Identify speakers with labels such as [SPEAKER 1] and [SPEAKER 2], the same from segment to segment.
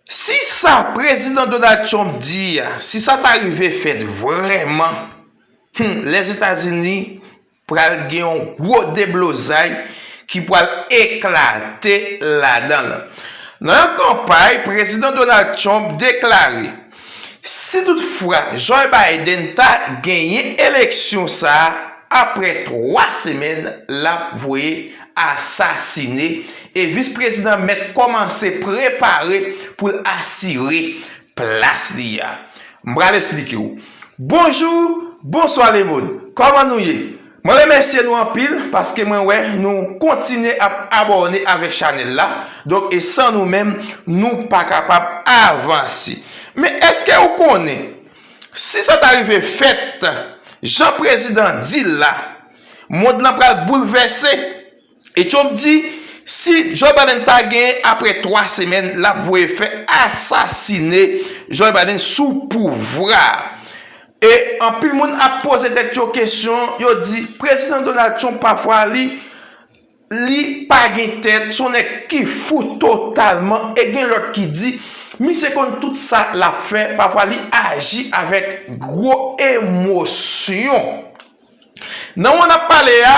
[SPEAKER 1] Si sa Prezidan Donald Trump di a, si sa ta rive fèt vrèman, hum, Lèzetazini Pral gen yon gwo deblozay ki pral eklate ladan l. Nan yon kanpay, Prezidan Donald Trump deklare, Si tout fwa Joe Biden ta genyen eleksyon sa a, apre 3 semèn l ap voye asasine, e Vis Prezidan mèt kòmanse prepare pou l asire Plas li a. M pral esplike w. Bonjou, bonswa lemond. Kòman nou ye? Mwen remèsye nou anpil paske mwen wè nou kontinye ap abòne avèk chanèl la. Donk e san nou menm nou pa kapab avanse. Men eske ou konnen si sa ta rive fèt jan prezidan di l la mond lan pral boulvèse. E Trump di si Joe Biden ta genyen apre 3 semèn lap voye fè asasine Joe Biden sou pouvwa. E anpil moun ap poze tèt yo kesyon, yo di Prezidan Donald Trump pafwa li li pa gen tèt, son nèg ki fou totalman e gen lòt ki di misye konn tout sa lap fè, pafwa li aji avèk gwo emosyon. Nan mwa nap pale a,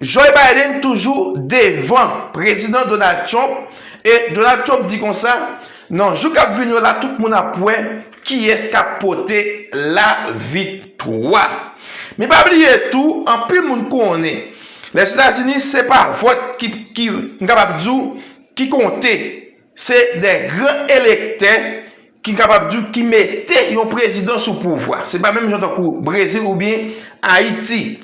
[SPEAKER 1] Joe Biden toujou devan Prezidan Donald Trump e Donald Trump di konsa, nan jou kap vini yo la tout moun ap wè kiyès kap pote la viktwa. Men pa bliye tou, anpil moun konnen Lèzetazini se pa vòt ki, m kapab di w, ki konte. Se de gran elektè ki n kapab di w ki mete yon prezidan sou pouvwa. Se pa menm jan tankou Brezil oubyen Ayiti.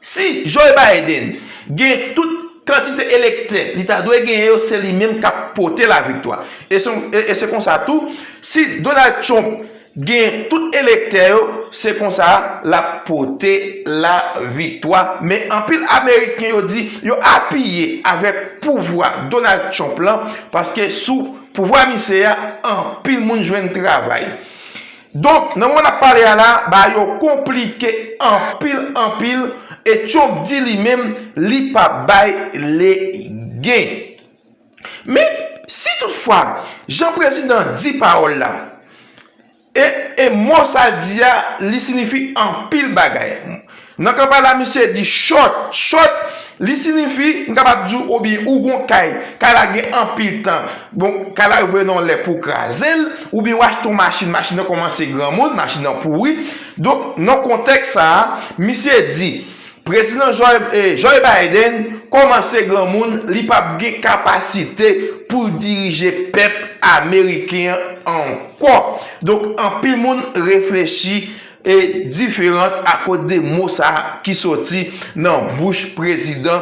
[SPEAKER 1] Si Joe Biden gen tout kantite elektè li ta dwe genyen yo, se li menm k ap pote laviktwa. E se konsa tou, si Donald Trump Gen tout elektè yo se konsa lap pote la viktwa men anpil ameriken yo di yo apiye avèk pouvwa Donald Trump lan paske sou pouvwa misye ya anpil moun jwenn travay donk nan moman nap pale a la ba yo konplike anpil anpil e Trump di li menm li pap bay legen. Men, si tout fwa, jan prezidan an di pawòl la, e, e mo sa l di a, li sinifi anpil bagay. Nan kanpay la misye di chòt, chòt, li sinifi, m kapab di w, oubyen ou gon kay, kay la gen anpil tan, bon, kay la yo voye nan yon lè pou w kraze l, oubyen ou achte yon machin, machin nan kòmanse granmoun, machin nan pouri. Donk, nan kontèks sa a, misye di, Prezidan Joe Biden kòmanse granmoun, li pap gen kapasite poul dirije pèp ameriken an ankò. Donk anpil moun reflechi diferant akoz de mo sa ki soti nan bouch prezidan.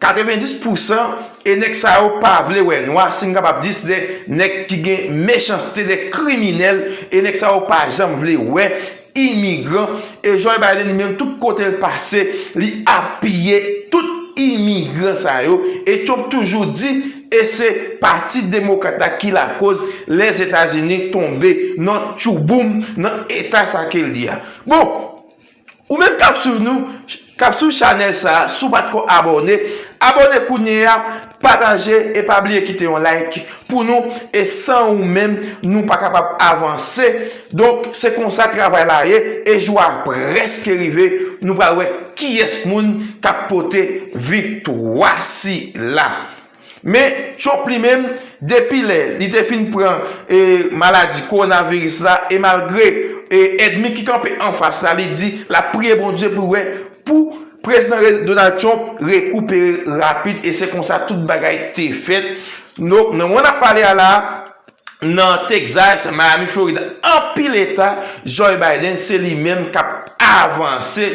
[SPEAKER 1] 90 pou san e nèg sa yo pa vle wè nwa si m kapab di se de nèg ki gen mechanste de kriminèl e nèg sa yo pa janm vle wè imigran e Joe Biden li menm tout kote l pase li apiye tout imigran sa yo e Trump toujou di e se pati demokrat la ki lakoz Lèzetazini tonbe nan tchouboum nan eta sa ke l ye a bon Ou menm kap swiv nou, kap swiv chanèl sa, si w pat ko abòne, abòne kounye a, pataje e pa bliye kite yon like pou nou e san ou menm nou pa kapab avanse donk se konsa travay la ye e jou a prèske rive nou pral wè kiyès moun kap pote viktwa sila. Men, Trump li menm, depi lè li te fin pran maladi kowonaviris la e malgre èdmi ki kanpe anfas la, li di l ap priye Bondye pou wè pou Prezidan Donald Trump rekupere rapid e se konsa tout bagay te fèt. Nou, nan moman n ap pale a la, nan Texas, Miami, Florida, anpil eta, Joe Biden se li menm k ap avanse.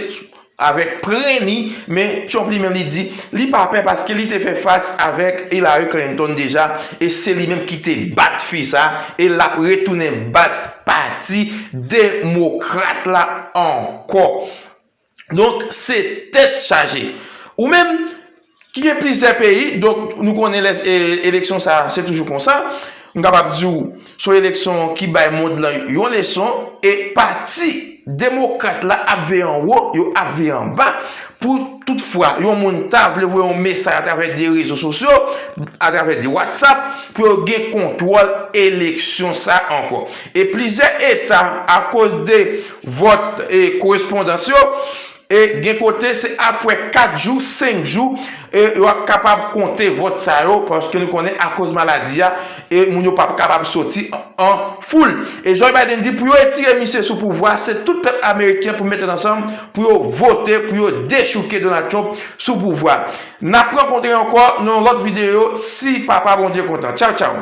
[SPEAKER 1] avèk pren li, men Trump li menm li di li pa pè paske li te fè fas avèk Hillary Clinton deja e se li menm ki te bat fi sa e lap retounen bat pati demokrat la ankò. Donk se tèt chaje. Ou menm? ki gen plizyè peyi, donk nou konnen lè eleksyon sa se toujou konsa, m kapab di w son eleksyon ki bay mond lan yon leson e pati demokrat la ap veye an wo, yo ap veye an ba pou tout fwa yon moun ta vle voye yon mesaj atravè de rezo sosyo, atravè de watsap pou yo gen kontwòl eleksyon sa ankò. E plizyè eta akoz de vòt korespondans yo, E gen kote se apwè 4 jou, 5 jou e yo ap kapab konte vòt sa yo paske nou konnen akoz maladi a e moun yo pap kapab soti an foul. E Joe Biden di pou yo etire misye sou pouvwa se tout pèp ameriken pou mete ansanm pou yo vote pou yo dechouke Donald Trump sou pouvwa. Nap rankontre ankò nan yon lòt videyo si papa Bondye kontan. Tchaw tchaw.